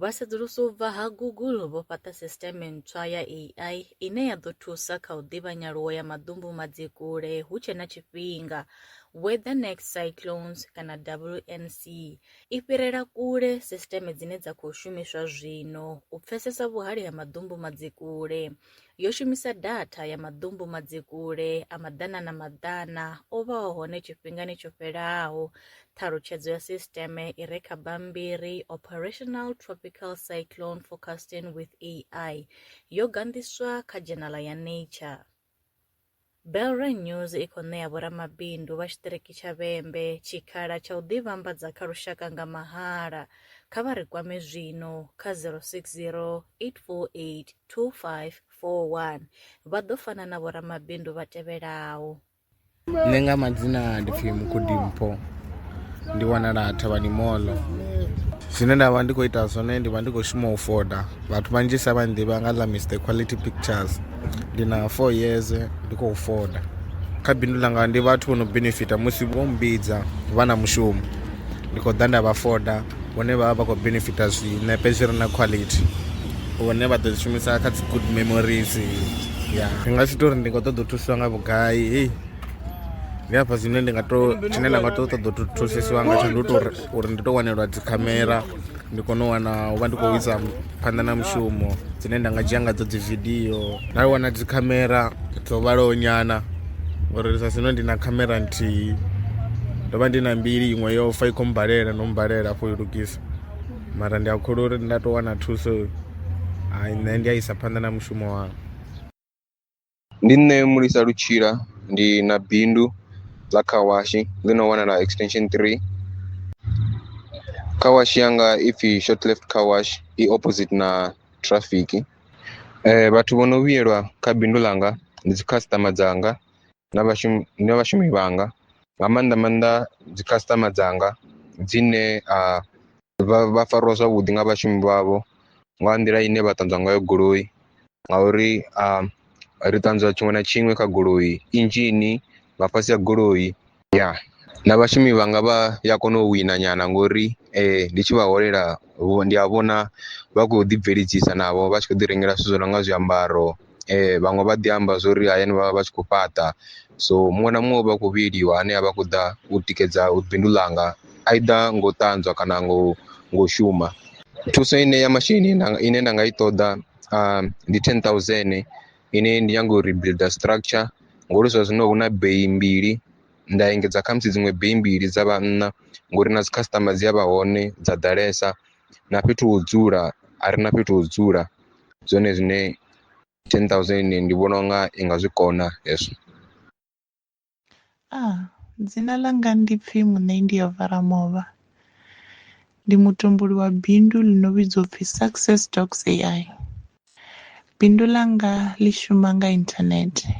Vhasedzulusi u bva ha Google vho fhaṱa sisiṱeme ntswa ya AI ine ya ḓo thusa kha u ḓivha nyaluwo ya maḓumbu madzikule hu tshe na tshifhinga. Weather Next Cyclones kana WNC i fhirela kule sisiṱeme dzine dza khou shumiswa zwino u pfesesa vhuhali ha maḓumbu madzikule. yo shumisa datha ya maḓumbu madzikule a maḓana na maḓana o vhaho hone tshifhingani tsho fhelaho. Ṱhalutshedzo ya sisiteme i re kha bammbiri Operational Tropical Cyclone Forecasting with AI yo ganḓiswa kha dzhenala ya Nature. Belron News i khou ṋea vhoramabindu vha tshiṱiriki tsha Vhembe tshikhala tsha u ḓivhambadza kha lushaka nga mahala. Kha vha ri kwame zwino kha 060 848 2541. Vha ḓo fana na vhoramabindu vha tevhelaho. Nṋe nga madzina ndi pfi Mukhodimpho. ndi wanala thavhani moḽo zwine nda vha ndi khou ita zwone ndi vha ndi khou shuma u foda vhathu vhanzhisa vha nḓivha nga ḽa mr quality pictures ndi na four years ndi khou foda kha bindu ḽanga ndi vhathu vho no benefita musi vho mbidza vha na mushumo ndi khou ḓa nda vha foda vhone vha vha vha khou benefita zwinepe zwi re na quality vhone vha ḓo zwi shumisa kha dzi good memories ya ndi nga si tori ndi khou ṱoḓa u thusiwa nga vhugai ndi hafha zwine ndi nga to tshine nda nga to ṱoḓa u thusisiwa ngatsho ndi u to uri ndi to wanelwa dzikhamera ndi kone u wana u vha ndi khou isa phanḓa na mushumo dzine nda nga dzhia ngadzo dzi vidio nda wana dzikhamera dzo vhalaho nyana uri sa zwino ndi na khamera nthihi ndo vha ndi na mbili iṅwe yo fa i khou mbalela no mbalela afho i lugisa mara ndi a khulu uri nda to wana thuso nṋe ndi a isa phanḓa na mushumo wanga Ndi nṋe Mulisa Lutshila ndi na bindu ḽa car wash ḽi no wanala extension three, car wash yanga ipfhi short lift car wash i opposite na traffic. Vhathu vho no vhuyelwa kha bindu ḽanga ndi dzi customer dzanga na vhashumi na vhashumi vhanga nga maanḓa maanḓa dzi customer dzanga dzine a vha vha fariwa zwavhuḓi nga vhashumi vhavho nga nḓila ine vha ṱanzwa ngayo goloi ngauri a ri ṱanzwa tshiṅwe na tshiṅwe kha goloi, inzhini, nga fhasi ha goloi ya na vhashumi vhanga vha ya kona u wina nyana ngori ndi tshi vha holela ndi a vhona vha khou ḓi bveledzisa navho vha tshi kho ḓi rengela zwithu zwi no nga zwiambaro. vhaṅwe vha ḓi amba zwa uri hayani vha vha vha tshi khou fhaṱa so muṅwe na muṅwe u vha a khou vhuyeliwa ane a vha khou ḓa u tikedza bindu ḽanga either nga u ṱanzwa kana ngo ngo shuma. Thuso ine ya masheleni ine nda nga i ṱoḓa ndi ten thousand ine ndi nyanga u rebuilder structure ngori zwa zwino hu na beyi mbili nda engedza khamusi dziṅwe beyi mbili dza vha nṋa ngori na dzi customer dzi a vha hone dza ḓalesa. na fhethu ho dzula a re na fhethu ho dzula ndi zwone zwine ten thousand ndi vhona unga i nga zwi kona hezwo. A, dzina ḽanga ndi pfi Muṋendi ya Varamovha. Ndi mutumbuli wa bindu ḽi no vhidzwa u pfi Success Dogs AI. Bindu ḽanga ḽi shuma nga inthanethe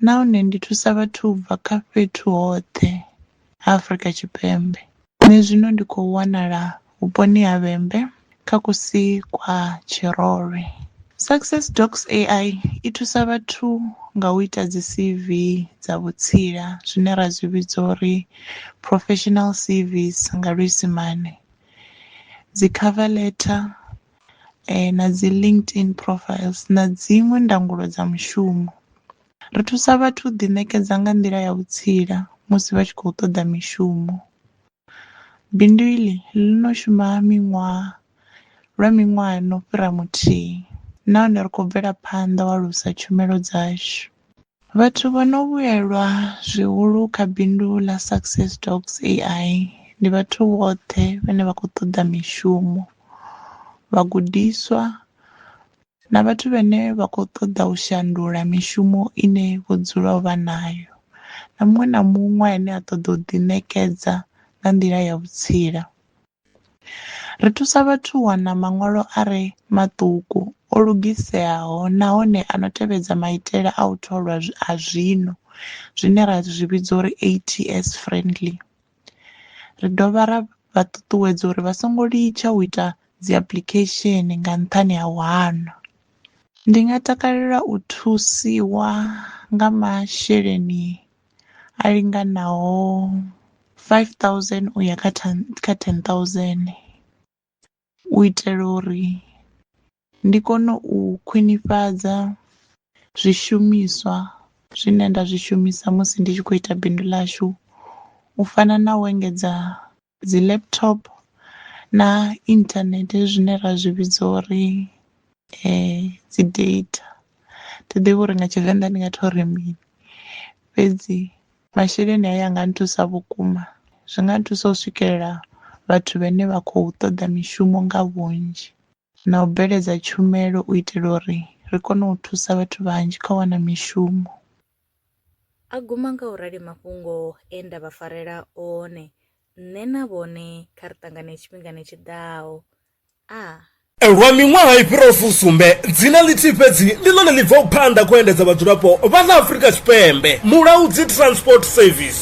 nahone ndi thusa vhathu u bva kha fhethu hoṱhe ha Afrika Tshipembe. Nṋe zwino ndi khou wanala vhuponi ha Vhembe kha kusi kwa Tshirolwe. Success Docs AI i thusa vhathu nga u ita dzi CV dza vhutsila zwine ra zwi vhidza uri professional CVs nga luisimane, dzi cover letter na dzi LinkedIn profiles na dziṅwe ndangulo dza mushumo. Ri thusa vhathu u ḓiṋekedza nga nḓila ya vhutsila musi vha tshi khou ṱoḓa mishumo. Bindu iḽi ḽi no shuma miṅwaha lwa miṅwaha no fhira muthihi nahone ri khou bvela phanḓa u alusa tshumelo dzashu. Vhathu vha no vhuyelwa zwihulu kha bindu ḽa Success Dogs AI ndi vhathu vhoṱhe vhane vha khou ṱoḓa mishumo, vhagudiswa na vhathu vhane vha khou ṱoḓa u shandula mishumo ine vho dzula vha nayo na muṅwe na muṅwe ane a ṱoḓa u ḓi ṋekedza nga nḓila ya vhutsila. Ri thusa vhathu u wana maṅwalo a re maṱuku, o lugiseaho nahone a no tevhedza maitele a u tholwa a zwino zwine ra zwi vhidza uri ATS friendly. Ri dovha ra vha ṱuṱuwedza uri vha songo litsha u ita dziapuḽikhesheni nga nṱhani ha u hana. Ndi nga takalela u thusiwa nga masheleni. a linganaho five thousand u ya kha ten kha ten thousand u itela uri ndi kone u khwinifhadza zwishumiswa zwine nda zwi shumisa musi ndi tshi kho ita bindu ḽashu u fana na u engedza. dzi laptop na internet zwine ra zwi vhidza uri dzi data thi ḓivhi uri nga tshivenḓa ndi nga to ri mini fhedzi masheleni a ya nga nthusa vhukuma zwi nga nthusa u swikelela vhathu vhane vha khou toḓa mishumo nga vhunzhi. na u bveledza tshumelo u itela uri ri kone u thusa vhathu vhanzhi kha u wana mishumo. A guma nga u rali mafhungo e nda vha farela one, Nṋe na vhone kha ri ṱangane tshifhingani tshi ḓaho. A. Lwa miṅwaha i fhiraho fusumbe, dzina ḽithihi fhedzi ndi ḽone ḽi bvaho phanḓa kha u endedza vhadzulapo vha ḽa Afrika Tshipembe, Mulaudzi Transport Service.